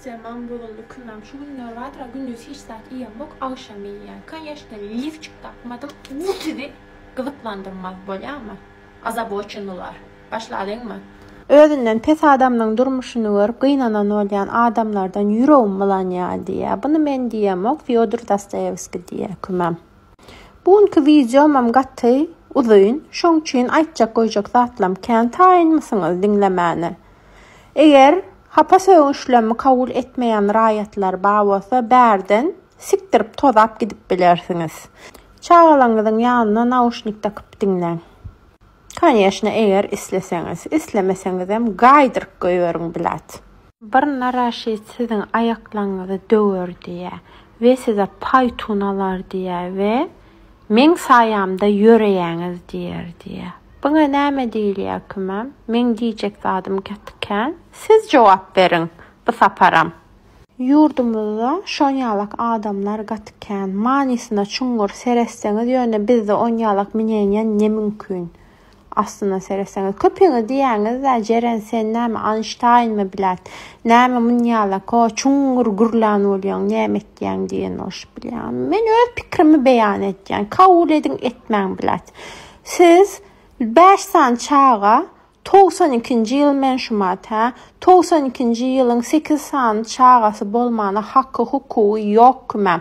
Temam bozuldy kümem şu günler bardyr gündiz hiç zat iýemok agşam iýýän kanyeshna lifçik tapmadym bu sizi gyzyklandyrmaz bolýamy ozabochennylar başlalyňmy. Özünden pes adamnyň durmuşyny görüp gynanan bolýan adamlardan ýüregim bulanýa diýýä buny men diýemok Fýodor Dostoýewskiý diýýä kümem. Bu günki wideomam gaty uzyn şoň üçin aýtjak goýjak zatlam kän taýynmysyňyz diňlemäne. Eger hapa sögünçlemi kabul etmeýän raýatlar bar bolsa bärden sikdirip tozap gidip bilersiňiz. Çagalaňyzyň ýanyna nauşnik dakyp diňleň. Koneşne eger isleseňiz. Islemeseňizem gaýdyryp goýberiň blat. Bir naraşit siziň aýaklaňyzy döwer diýýä we size paýtun alar diýýä we Meň saýamda ýöreýäňiz diýer diýýä. Buňa näme diýilýär kümem? Meň diýjek zadym gaty kän. Siz jogap beriň bu saparam. Ýurdumyzda şonýalak adamlar gaty kän. Manysyna çuňňur seretseňiz ýöne bizde onýalak minenýen ne mümkin. Aslynda seretseňiz köpüňiz diýýäňiz-dä Jeren sen näme Anştaýnmy blät? Näme munýalako çuňňur gürlän bolýaň näme etýäň diýen bolşup bilýän. Men öz pikrimi beýan etýän kabul ediň etmäň blät. Siz bäş sany çaga togsan ikinji ýyl men şumat hä togsan ikinji ýylyň sekiz sany çagasy bolmana haky hukugy ýok kümem.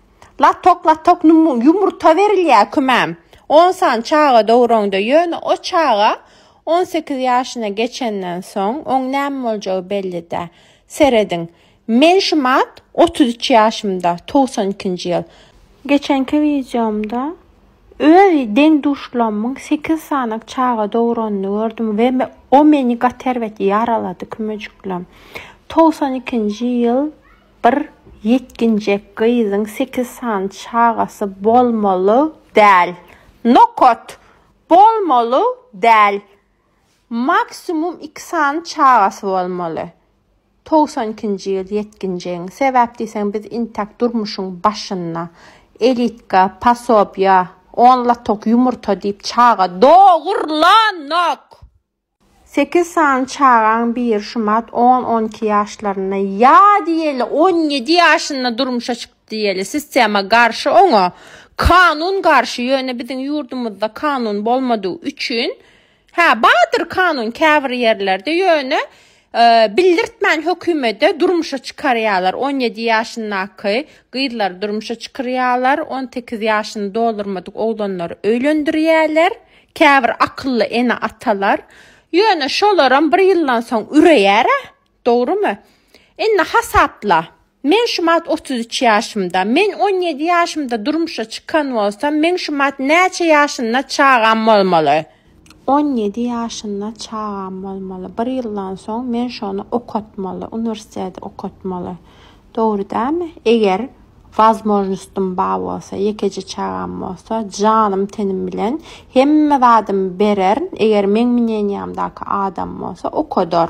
Latok latok ýumurta berilýär kümem. On sany çaga doguraňda, ýöne o çaga on sekiz ýaşyna geçenden soň, oň näme boljagy belli däl. Serediň. Men şu mart otuz üç ýaşymda, togsan ikinji ýyl. Geçenki wideomda öz deň-duşlarymyň sekiz sany çaga doguranyny gördüm we o meni gaty erbet ýaralady kümejiklerim. Togsan ikinji ýyl. Bir ýetginjek gyzyň sekiz sany çagasy bolmaly däl. Nokat! Bolmaly däl. Maksimum iki sany çagasy bolmaly. Togsan ikinji ýyl ýetginjegiň. Sebäp diýseň biz intäk durmuşyň başynda. Elitka, pasobýa, on lotok ýumurta diýip çaga dogurlanok! Sekiz sany çagaň biri şumat on-on iki ýaşlarynda, ýa diýeli on ýedi ýaşynda durmuşa çykdy diýeli. Sistema garşy oňa, kanun garşy, ýöne biziň ýurdumyzda kanun bolmadygy üçin, hä bardyr kanun käbir ýerlerde, ýöne bildirtmän hökümede durmuşa çykarýarlar. 17 ýaşyndaky gyzlary durmuşa çykyrýarlar, 18 ýaşyny doldurmadyk oglanlary öýlendirýärler. Käbir akylly ene-atalar. Ýöne şolaram bir ýyldan soň üreýär-ä, dogrumy? Indi hasapla. Men şumat otuz üç ýaşymda. Men on ýedi ýaşymda durmuşa çykan bolsam, meň şumat näçe ýaşynda çagam bolmaly? On ýedi ýaşynda çagam bolmaly. Bir ýyldan soň men şony okatmaly, uniwersiteti okatmaly. Dogry dälmi? Eger wazmožnostym bar bolsa, ýekeje çagam bolsa, janym-tenim bilen hemme zadymy bererin, eger meň mneniýamdaky adam bolsa, okadar.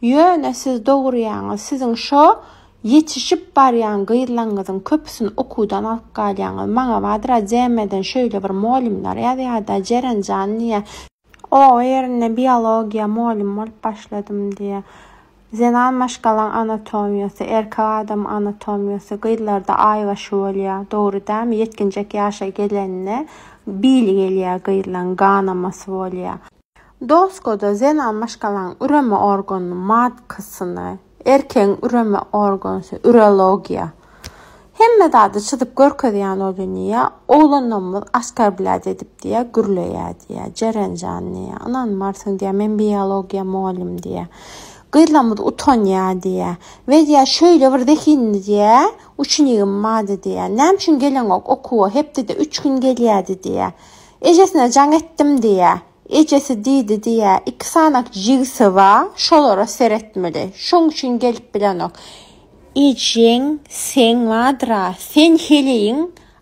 Ýöne siz dogurýaňyz, siziň şo ýetişip barýan gyzlaňňyzyň köpüsini okuwdan alyp galýaňyz. Maňa Badra Jemeden şöýle bir molymlar ýazýarda, Jeren jan diýýär. O ýerinde biologiýa molym bolup başladym diýýär. Zenan maşgalaň anatomiýasy, erkek adamyň anatomiýasy gyzlarda aýbaşy bolýar, dogry dälmi? Ýetginjek ýaşa gelende bili gelýär gyzlaň, ganamasy bolýar. Doskoda zenan maşgalaň üreme organynyň matkasyny, erkegiň üreme organysy, urologiýa, hemme zady çyzyp görkezýän boldy diýýär. Oglanlarymyz Askar bläd edip diýýär, gürleýär diýýär. Jeren jan diýýär, ynanmarsyň diýýär, men biologiýa mugallym diýýär. Gyzlarymyz utanýar diýýär. We diýýär, şeýle bir zehinli diýýär, uçnigim bardy diýýär. Näme üçin geleňok okuwa, hepdede üç gün gelýärdi diýýär. Ejesine jaň etdim diýýä. Ejesi diýdi diýýä, iki sanak jigsi ba, şolara seretmeli. Şoň üçin gelip bilenok. Ejeň seň badyr-a, sen heleýiň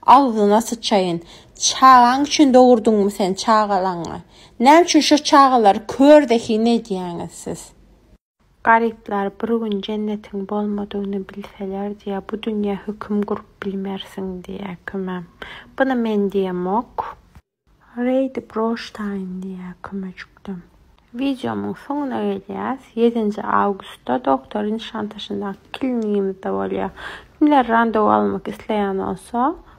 agzyna syçaýyn. Çagaň üçin dogurdyňmy sen çagalaňy? Näme üçin şo çagalary kör zehin edýäňiz siz? Garyplar bir gün jennetiň bolmadygyny bilseler diýýär, bu dünýä höküm gurup bilmersiň diýýär kümä. Buny men diýemok. Reýdi broştaýyn diýýär kümejikdem. Wideomyň soňuna gelýäs. Ýedinji awgustda Doktory Nişantaşyndaky klinigimizde bolýar. Kimler randewu almak isleýän bolsa.